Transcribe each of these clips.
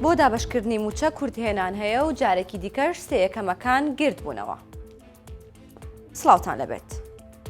بۆ دابەشکردنی موچە کورت هێنان هەیە و جارێکی دیکەش سێ یەکەمەکان گرد بوونەوە. سلااوان لەبێت.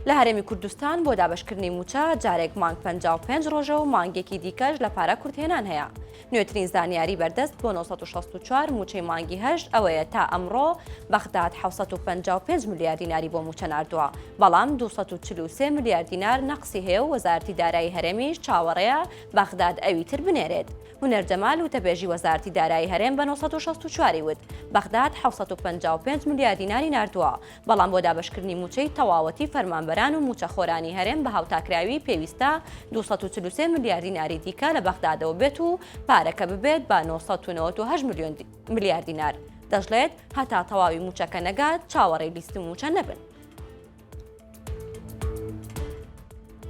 لە هەرێمی کوردستان بۆ دابشکردنی موچە جارێک مانگ 55 ڕۆژە و مانگێکی دیکەش لە پارە کورتێنان هەیە نوێترین زانیاری بەردەست بۆ 1964 موچەی مانگی هەشت ئەوەیە تا ئەمڕۆ بەغداد 755 ملیار دیناری بۆ موچە ناردووە بەڵام 243 ملیار دینار نەقسی هەیە و وەزارتی دارایی هەرێمیش چاوەڕێیە بەغداد ئەوی تر بنێرێت هونەر جەمال وتەبێژی وەزارتی دارایی هەرێم بە 1964 وت بەغداد 755 ملیار دیناری ناردووە بەڵام بۆ دابەشکردنی مووچەی تەواوەتی فەرمانبەران و مووچەخۆرانی هەرێم بە هاوتاکراوی پێویستە دوو سەد و چل و سێ ملیار دیناری دیکە لە بەغدادەوە بێت و پارەکە ببێت بە نۆ سەد و نەوەد و هەشت ملیۆن ملیار دینار دەشڵێت هەتا تەواوی مووچەکە نەگات چاوەڕێی لیستی مووچە نەبن.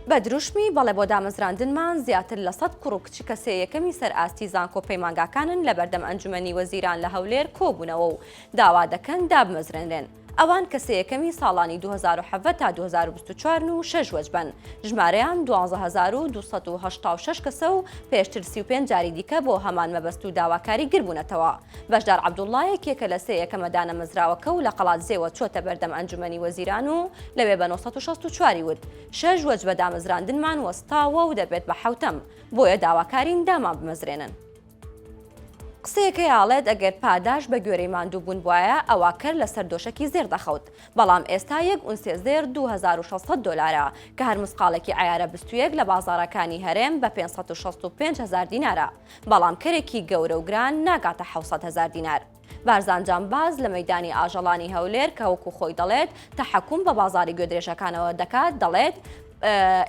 بە دروشمی بەڵێ بۆ دامەزراندنمان زیاتر لە سەد کوڕ و کچی کەسێ یەکەمی سەر ئاستی زانکۆ پەیمانگاکانن لە بەردەم ئەنجومەنی وەزیران لە هەولێر کۆبوونەوە و داوا دەکەن دابمەزرێنرێن. ئەوان کە سێ یەکەمی ساڵانی دوو هەزار و حەڤدە تا دوو هەزار و بیست و چوار ن و شەش وەجبەن، ژمارەیان دوازدە هەزار و دوو سەد و هەشتا و شەش کەسە و پێشتر سی و پێنج جاری دیکە بۆ هەمان مەبەست و داواکاری گربوونەتەوە. بەشدار عەبدوڵڵا یەکێکە لە سێ یەکەمە دانەمەزراوەکە و لە قەڵادزێوە چۆتە بەردەم ئەنجومەنی وەزیران و لەوێ بە نۆ سەد و شەست و چوار ی وت، شەش وەجبە دامەزراندنمان وەستاوە و دەبێت بە حەوتەم، بۆیە داواکارین دامانبمەزرێنن. قسەیەکەی ئاڵێت ئەگەر پاداش بە گوێرەی ماندوو بوون بوایە ئەوا کەر لە سەر دۆشەکی زێر دەخەوت بەڵام ئێستا یەک ئونسێ زێر دوو هەزار و شەش سەد دۆلارە کە هەر مسقاڵێکی عەیارە بستوویەک لە بازاڕەکانی هەرێم بە پێنج سەد و شەست و پێنج هەزار دینارە بەڵام کەرێکی گەورە و گران ناگاتە حەوت سەد هەزار دینار. بارزان جامباز لە مەیدانی ئاژەڵانی هەولێر کە وەکو خۆی دەڵێت تەحەکوم بە بازاری گوێدرێژەکانەوە دەکات دەڵێت،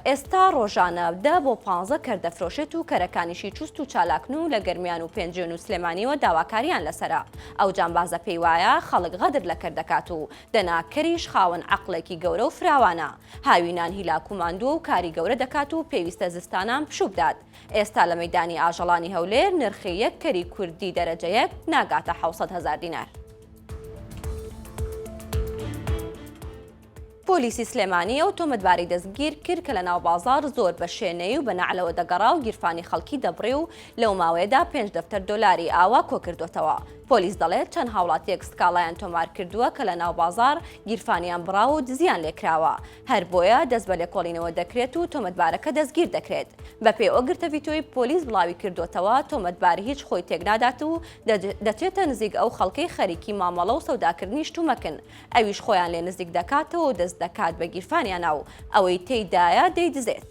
ئێستا ڕۆژانە دە بۆ پانزە کەر دەفرۆشێت و کەرەکانیشی چوست و چالاکن و لە گەرمیان و پێنجوێن و سلێمانیەوە داواکاریان لەسەرە. ئەو جامبازە پێی وایە خەڵک غەدر لە کەر دەکات و دەنا کەریش خاوەن عەقڵێکی گەورە و فراوانە، هاوینان هیلاک و ماندووە و کاری گەورە دەکات و پێویستە زستانان پشووبدات. ئێستا لە مەیدانی ئاژەڵانی هەولێر نرخی یەک کەری کوردی دەرەجە یەک ناگاتە حەوت سەد هەزار دینار. پۆلیسی سلێمانی ئەو تۆمەتباری دەستگیر کرد کە لە ناو بازار زۆر بە شێنەی و بە نەعلەوە دەگەڕا و گیرفانی خەڵکی دەبڕی و لەو ماوەیەدا پێنج دەفتەر دۆلاری ئاوا کۆکردوەتەوە پۆلیس دەڵێت چەند هاوڵاتیەک سکاڵایان تۆمارکردووە کە لە ناو بازار گیرفانیان بڕاوە و دزیان لێکراوە هەر بۆیە دەست بە لێکۆڵینەوە دەکرێت و تۆمەتبارەکە دەستگیر دەکرێت. بەپێی ئەو گرتە ڤیتۆی پۆلیس بڵاویکردۆتەوە، تۆمەتبار هیچ خۆی تێکنادات و دەچێتە نزیک ئەو خەڵکەی خەریکی مامەڵە و سەوداکردنی شتومەکن، ئەویش خۆیان لێ نزیک دەکاتەوە و دەست دەکات بە گیرفانیانا و ئەوەی تێیدایە دەیدزێت.